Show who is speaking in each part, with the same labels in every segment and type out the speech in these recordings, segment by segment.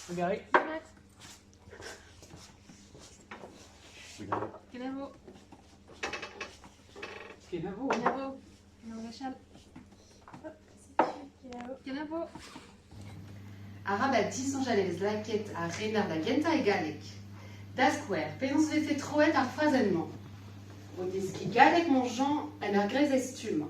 Speaker 1: Trugarez.
Speaker 2: Kenavo.
Speaker 1: Kenavo.
Speaker 2: Kenavo. Kenavo Rachel. Kenavo.
Speaker 3: Arabat disonjalez lakaet a rener da gentañ e galleg. Da skouer, penaos vefe troet ar frazenn-mañ? O deskiñ galleg, mon Jean, en ur greiz e stumm.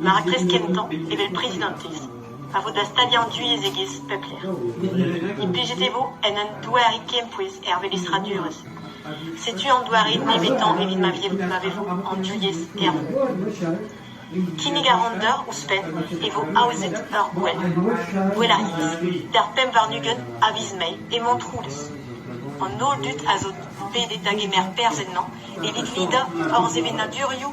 Speaker 4: Ma raktres kentañ evel prezidantez a vo da staliañ an divyezhegezh pep lec'h. Implijet e vo en un doare kempouez er velestradurezh. Setu an doare nevetañ evit ma vevo an divyezh er vro. Kinnig a ran deoc'h ouzhpenn e vo aozet ur gouel, Gouel ar Yezh, d'ar pemp warn-ugent a viz Mae e Montroulez. An holl dud a zo bet da gemer perzh ennañ evit lidañ hor sevenadurioù